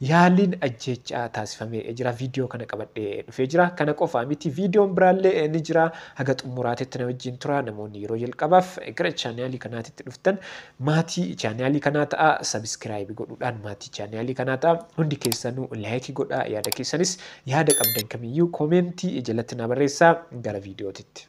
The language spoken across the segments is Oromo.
Yaaliin ajjeechaa taasifame jira. Viidiyoo kana qabadhee dhufee jira. Kana qofaa miti viidiyoon biraallee ni jira. Haga xumuraatitti na wajjin tura. Namoonni yeroo jalqabaaf gara chaanaalii kanaatitti dhuftan maatii chaanaalii kanaa ta'a. Sabiskiraayibi godhuudhaan maatii chaanaalii kanaa ta'a. Hundi keessanuu laayikii godhaa. Yaada keessanis yaada qabdan kamiyyuu koomeentii jalatti naa barreessaa. Gara viidiyootitti.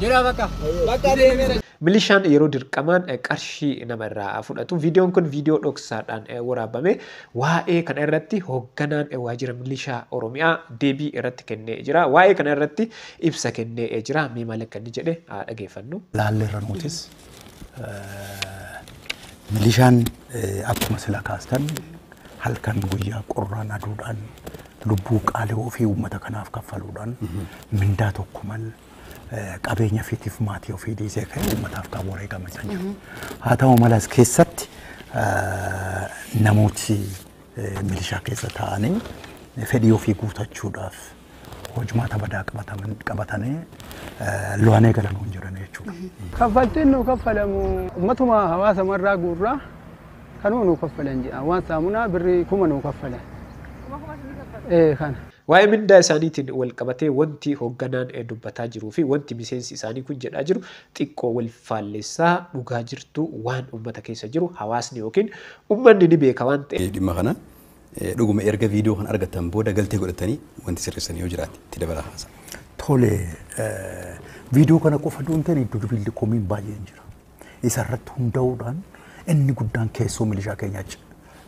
Jira bakka. Bakka deemera. Milishaan yeroo dirqamaan eh, qarshii nama irraa fudhatu. Viidiyoon kun viidiyoo dhoksaadhaan eh, waraabame. Waa'ee kana irratti hoogganaan eh, waajjira milishaa Oromiyaa deebii irratti kennee jira. Waa'ee kana irratti ibsa kennee eh, jira. Mee maal akka inni jedhe haa dhageeffannu. laalleerra nutis milishaan eh, akkuma sila kaastan halkan guyyaa qorraan aduudhaan lubbuu qaalii ofii uummata kanaaf kaffaluudhaan mindaa tokko mal qabeenya ofiitiif maatii ofii dhiisee ka'e uummataaf kan wareegame kan jiru. Haa ta'u malas keessatti namooti milishaa keessa taa'anii fedhii ofii guutachuudhaaf hojmaata badaa qabatanii lo'anee galanuu hin jiran jechuudha. Kaffaltiin nu kaffalamu ummatuma hawaasa marraa guurraa kanuma nu kaffalan jedha. Waan saamunaa birrii kuma nu kaffalan. Kuma kuma isin kaffala? Ee kana. Waa'ee mindaa isaaniitiin walqabatee wanti hogganaan dubbataa jiruu fi wanti miseensi isaanii kun jedhaa jiru xiqqoo wal faallessa. Dhugaa jirtu waan ummata keessa jiru hawaasni ykn ummanni ni beeka waan ta'eef. dhimma kana. Dhuguma erga viidiyoo kana argattan booda galtee godhattanii wanti sirreessan yoo jiraate itti dabalaa haasa'a. Tole, viidiyoo kana qofa odoo hin taane iddo dubiillee komiin baay'een jira. Isa irratti hunda'uudhaan inni guddaan keessoo milishaa keenyaa c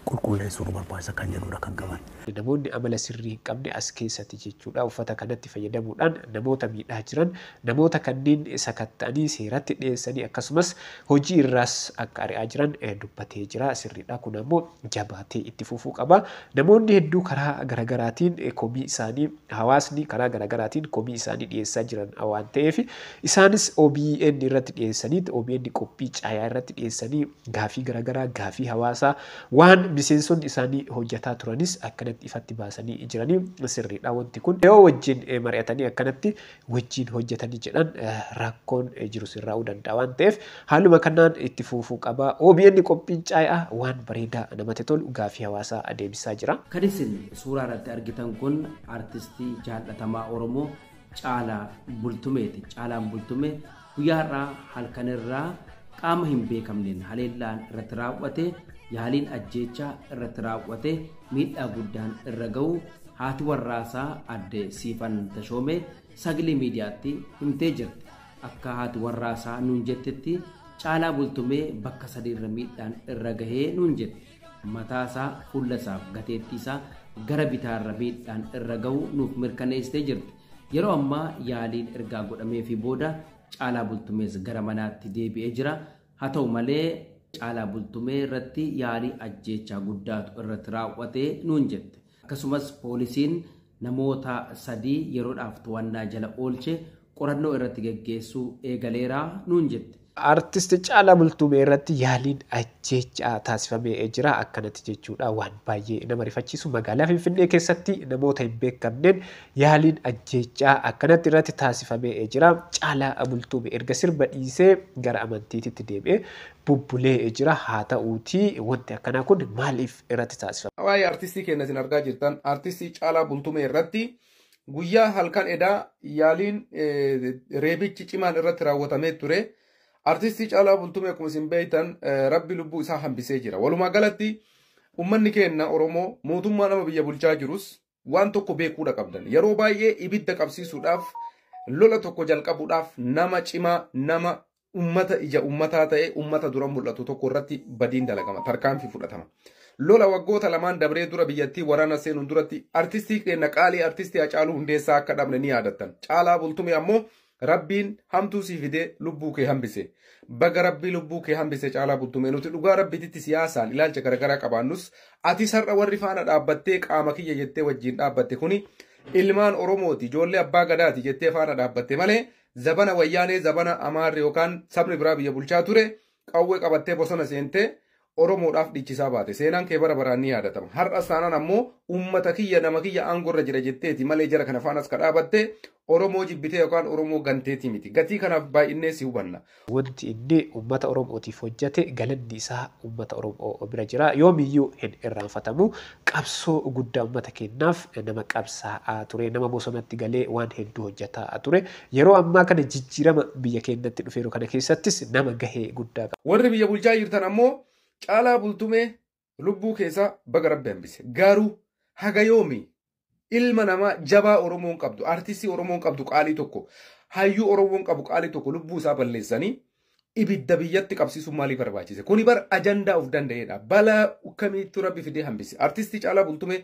qulqulleessuu nu barbaachisa kan jedhuudha kan qaban. Namoonni amala sirrii hin qabne as keessati jechuudha uffata kanatti fayyadamuudhaan namoota miidhaa jiran, namoota kanneen sakatta'anii seeratti dhiyeessanii akkasumas hojii irraas akka ari'aa jiran dubbatee jira. Sirriidha kun ammoo jabaatee itti fufuu qaba. Namoonni hedduu karaa garagaraatiin komii isaanii. hawaasni karaa garagaraatiin komii isaanii dhiyeessaa jiran waan ta'eef isaanis obn irratti dhiyeessaniit obn qophii caayaa irratti dhiyeessanii gaafii garagaraa gaafii hawaasaa waan miseensonni isaanii hojjataa turanis akkanatti ifatti baasanii jiranii sirriidha wanti kun yoo wajjin mari'atanii akkanatti wajjiin hojjatani jedhan rakkoon jiru sirraa'uu danda'a waan ta'eef haaluma kanaan itti fuufuu qaba. OBN qophiin caayaa waan bareedaa namatti tolu gaafii hawaasaa adeebisaa jira. Kan isin suuraa irratti argitan kun artistii jaallatamaa Oromoo Caalaa Bultumeeti. Caalaan Bultumee Guyyaa har'aa halkan irraa qaama hin beekamneen haleellaan irratti raaw'ate yaaliin ajjeechaa irratti raaw'ate miidhaa guddaan irra ga'u haati warraasaa adde Siifan Tashoomee sagalee miidiyaatti himtee jirti. Akka haati warraasaa nuun jettetti caalaa bultumee bakka sadiirra miidhaan irra gahee nuun jette. Mataasaa, fuullasaaf gateettiisaa gara bitaarra miidhaan irra ga'u nuuf mirkaneessitee jirti. Yeroo ammaa yaaliin ergaa godhameefii booda Caalaa Bultumees gara manaatti deebi'ee jira. Haa ta'u malee Caalaa Bultumee irratti yaalii ajjeechaa guddaatu irratti raawwate nuun jette. Akkasumas poolisiin namoota sadii yeroodhaaf to'annaa jala oolche qorannoo irratti geggeessuu eegaleera nuun jette. Artist Caalaa Bultum irratti yaaliin ajjeechaa taasifame jira. Akkanatti jechuudha waan baay'ee nama rifachiisu magaalaa Finfinnee keessatti namoota hin beekamneen yaaliin ajjeechaa akkanatti irratti taasifame jira. Caalaa Bultum erga sirba dhiisee gara amantiititti deebi'ee bubbulee jira. Haa ta'uutii wanti akkanaa kun maaliif irratti taasifame? Waa'ee artistii keenya isin argaa jirtan artistii Caalaa Bultumee irratti guyyaa halkan edaa yaaliin reebichi cimaan irratti raawwatamee ture. Artistii Caalaa Bultumee akkuma isin beektan rabbi lubbuu isaa hambisee jira. Walumaa galatti uummanni keenya Oromoo mootummaa nama biyya bulchaa jirus waan tokko beekuudha qabdan. Yeroo baay'ee ibidda qabsiisuudhaaf lola tokko jalqabuudhaaf nama cimaa nama ummata ija ummataa ta'e ummata dura mul'atu tokko irratti badiin dalagama tarkaanfii fudhatama. Lola waggoota lamaan dabree dura biyyattii waraana seenuun duratti artistii keenya qaalii artistii Hacaaluu Hundeessaa akka dhabne ni yaadattan. Caalaa Bultumee ammoo Rabbiin hamtuu sii fidee lubbuu kee hambise. Baga Rabbii lubbuu kee hambise Caalaa Bultumee nuti dhugaa Rabbititti siyaasaan ilaalcha garaagaraa qabaannus ati sar'a warri faana dhaabbattee qaama kiyya jettee wajjin dhaabbatte kuni ilmaan Oromooti ijoollee abbaa gadaati jettee faana dhaabbatte malee Zabana Wayyaanee zabana Amaarri yookaan sabni biraa biyya bulchaa ture qawwee qabattee bosona seentee Oromoodhaaf dhiichisaa baate. Seenaan kee bara baraan ni yaadatama. Har'as taanaan ammoo uummata kiyya nama kiyya aangoo irra jira jetteeti malee jara kana faanas ka dhaabatte Oromoo jibbitee yookaan Oromoo ganteetii miti. Gatii kanaaf baay'innee si hubanna. jirtu. Wanti inni ummata Oromootiif hojjate galanni isaa ummata Oromoo bira jira. Yoomiyyuu hin irraanfatamu. Qabsoo guddaa ummata keenyaaf nama qabsaa'aa ture. Nama bosonatti galee waan hedduu hojjataa ture. Yeroo ammaa kana jijjiirama biyya keenyatti dhufeeru kana keessattis nama gahee guddaa qaba. Warri biyya bulchaa jirtan ammoo Caalaa Bultumee lubbuu keessaa baga rabbi hambise garuu haga yoomi ilma namaa jabaa oromoon qabdu artistii oromoon qabdu qaalii tokko hayyuu oromoon qabu qaalii tokko lubbuu isaa balleessanii ibidda biyyatti qabsiisuun maaliif barbaachise kuni bar ajandaa of danda'eedha balaa kamiittu rabbi fidee hambise artistii caalaa bultumee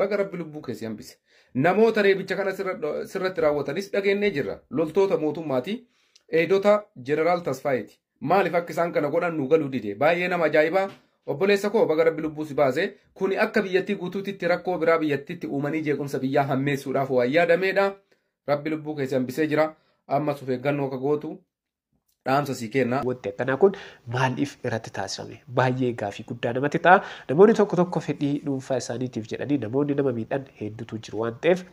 baga rabbi lubbuu keessi hambise namoota reebicha kana sirra- sirratti raawwatanis dhageenyee jirra loltoota mootummaatii eedota jeneraal tasfaayeeti Maaliif akka isaan kana godhan nu galuu dide. Baay'ee nama ajaa'ibaa. Obboleessa koo baga rabbi lubbuu si baase. Kuni akka biyyattii guutuutitti rakkoo biraa biyyattitti uumanii jeequmsa biyyaa hammeessuudhaaf waan yaadameedha. Rabbi lubbuu kee si hambisee jira. Ammas of eeggannoo akka gootu dhaamsa sii kenna. Wanti akkanaa kun maaliif irratti taasifame? Baay'ee gaafii guddaa namatti ta'a. Namoonni tokko tokko fedhii dhuunfaa isaaniitiif jedhanii namoonni nama miidhan hedduutu jiru waan ta'eef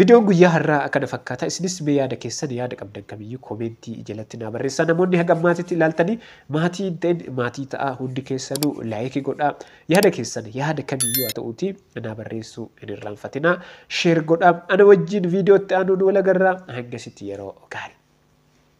Video guyyaa harraa akkana fakkaata isinis mee yaada keessan yaada qabdan kamiyyuu koomeentii jalatti naa barreessaa namoonni haga ammaatitti ilaaltanii maatii hin ta'in maatii ta'aa hundi keessanuu laayiki godhaa yaada keessan yaada kamiyyuu haa ta'uuti naa barreessuu hin irraanfatinaa sheer godhaa ana wajjiin viidiyootti aanuun walagarraa hangasitti yeroo gaarii.